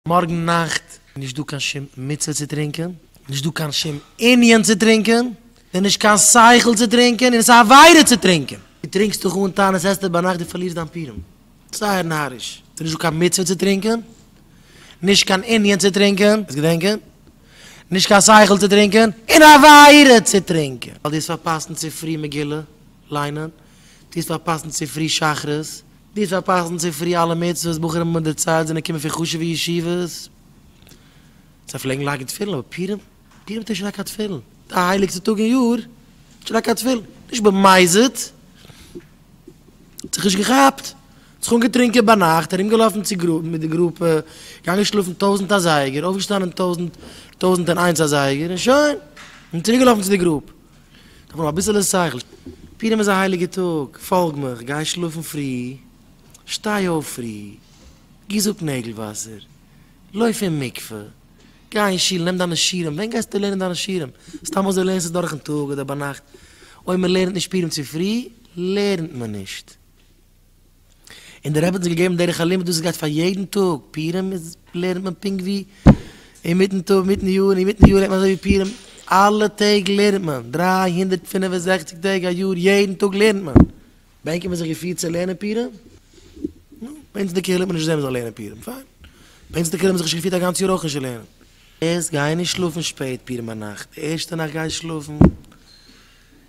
מארגן נאכט איז נישט דא קיין שום מצוה צו טרינקען, נישט דא קיין שום ענין צו טרינקען, ס'איז נישט קיין שכל צו טרינקען און עס איז א עבירה צו טרינקען. דו טרינקסט דיך אן טענה'ן עס עסטער ביינאכט דו פארלירסט דיין פירום. זייער נאריש. ס'איז נישט דא קיין מצוה צו טרינקען, נישט קיין ענין צו טרינקען, עס געדענקען, נישט קיין שכל צו טרינקען, און א עבירה צו טרינקען, ווייל דו האסט פארפאסן צופרי מגילה ליינען, דו האסט פארפאסן צופרי שחרית, דאס פארפאסן צו פרי אלע מצוות, בחורים האבן מיט די צייט זענען געקומען פון חשובע ישיבות, זיי פלעגן לייגן תפילין, אבער פורים? פורים האט נישט געלייגט קיין תפילין, די הייליגסטע טאג אין יאר, נישט געלייגט קיין תפילין, נישט במזיד, האט זיך נישט געכאפט, האט זיך אנגעטרונקען ביינאכט, ארומגעלאפן צו גרופ מיט די גרופע, געגאנגען שלאפן טויזנט אזייגער, אויפגעשטאנען טויזנט, טויזנט און איינס אזייגער, און שוין, און צוריקגעלאפן צו די גרופ. כ'האב נאר אביסעלע שכל. פורים איז א הייליגע טאג, פאלג מיך, גיי שלאפן פרי, שטיי אויף פרי, גיס אפ נעגל וואסער, לויף אין מקווה, גיי אין שול, נעם דיינע שירים, ווען גייסטו לערנען דיינע שירים? סתם אזוי לערנסטו דורכן טאג אדער ביינאכט? אויב מען לערנט נישט פורים צופרי, לערנט מען נישט. און דער רבי האט אונז געגעבן דרך הלימוד וואס עס גייט פאר יעדן טאג, פורים איז לערנט מען פונקט ווי אינמיטן טאג אינמיטן יאר, און אינמיטן יאר לערנט מען אזוי ווי פורים, אלע טעג לערנט מען, דרײַ הונדערט פֿינף און זעכציק טעג א יאר יעדן טאג לערנט מען, בענקען מיר זיך געפירט צו לערנען פורים? נו, ביי אונז אין די קהילה האט מען נישט געזען מען זאל לערנען פורים, פיין, ביי אונז אין די קהילה האט מען זיך נישט געפירט א גאנץ יאר אויך נישט צו לערנען. יעצט גיי נישט שלאפן שפעט פורים ביינאכט, די ערשטע נאכט גיי שלאפן.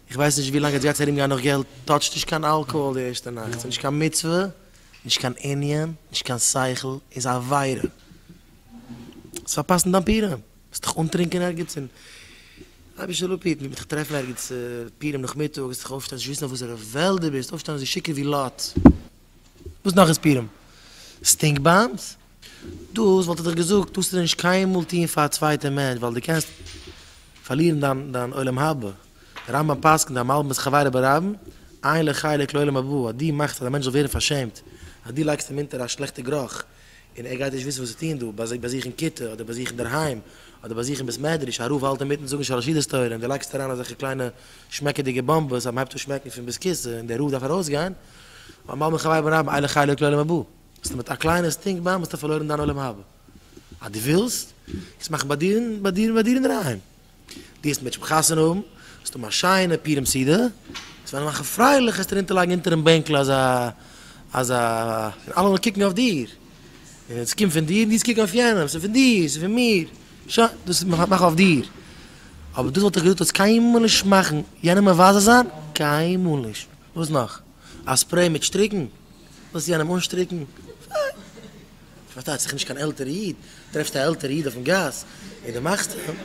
איך ווייס נישט ווי לאנג עטס גייטס ארום גיין נאך געלט, טאטשט נישט קיין אלקאהאל די ערשטע נאכט, ס'איז נישט קיין מצוה, נישט קיין ענין, נישט קיין שכל, איז א עבירה, האסט פארפאסט אין דיין פורים, וועסט דיך אנטרינקען ערגעץ און אבי שלופיט מ'וועט דיך טרעפן ערגעץ פורים נאכמיטאג וועסט דיך אויפשטיין זיך וויסן אויף וואסערע וועלט די ביסט, אויפשטיין אזוי שיכור ווי לוט, וואס נאך איז פורים? סטינק באמבס? דאס וואלט ער דאך געזאגט, דאס זאלסטו נישט קיינמאל טון פאר א צווייטע מענטש, ווייל דו קענסט פארלירן דיין עולם הבא, דער רמב ם פסק'נט א מלבן את חברו ברבים, עיין לחלק לעולם הבא, אז דו מאכסט אז א מענטש זאל ווערן פארשעמט, אז דו לייגסט אים אונטער א שלעכטע גרוך, און ער גייט נישט וויסן וואס צו טון דא, ביי זיי ביי זיך אין כיתה, אדער ביי זיך אינדערהיים, אדער ביי זיך אין בית מדרש, א רב האלט אינמיטן זאגן שלש ידות תורה, און דו לייגסט אריין אזעלכע קליינע שמעקעדיגע באמבעס אז מען הייבט אן שמעקן פון ביז כיסא, און דער רב דארף ארויסגיין, א מלבן את חברו ברבים, עיין לחלק לעולם הבא. ביסטו מיט א קליינע סטינק באמבע האסטו פארלוירן דיין עולם הבא. אז דו ווילסט עס מאכן ביי דיר ביי דיר ביי דיר אינדערהיים. דו האסט מערטש פון חתונה האבן, ווילסט האבן א שיינע פורים סעודה, ווילסט וועלן מאכן פרייליך עסט ארונטער לייגן אונטערן בענקל אזא אזא און אלע זאלן קוקן אויף דיר. און עס קומט פון דיר און דו זאלסט קוקן אויף יענעם. ס'איז פון דיר, ס'איז פון מיר. שוין, דאס מאך אויף דיר. אבער דאס וואלט איך געזאגט אז קיינמאל נישט מאכן יענעם מבזה זיין, קיינמאל נישט. וואס נאך? א ספרעי מיט שטריקן? ווילסט יענעם אנשטריקן? איך פארשטיי זיך נישט קיין עלטערע איד, טרעפסט א עלטערע איד אויפן גאס און די מאכסט אים,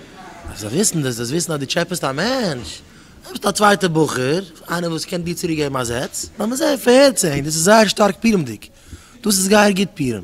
אז זיי וויסן דאס, דאס וויסן אז די טשעפעסט א מענטש, נעמסט א צווייטע בחור, איינער וואס קען דיר צוריק געבן א זעץ, לאמיר זען, פארהערט זיי, דאס איז זייער שטארק פירומדיג, דאס איז גייער גוט פירום.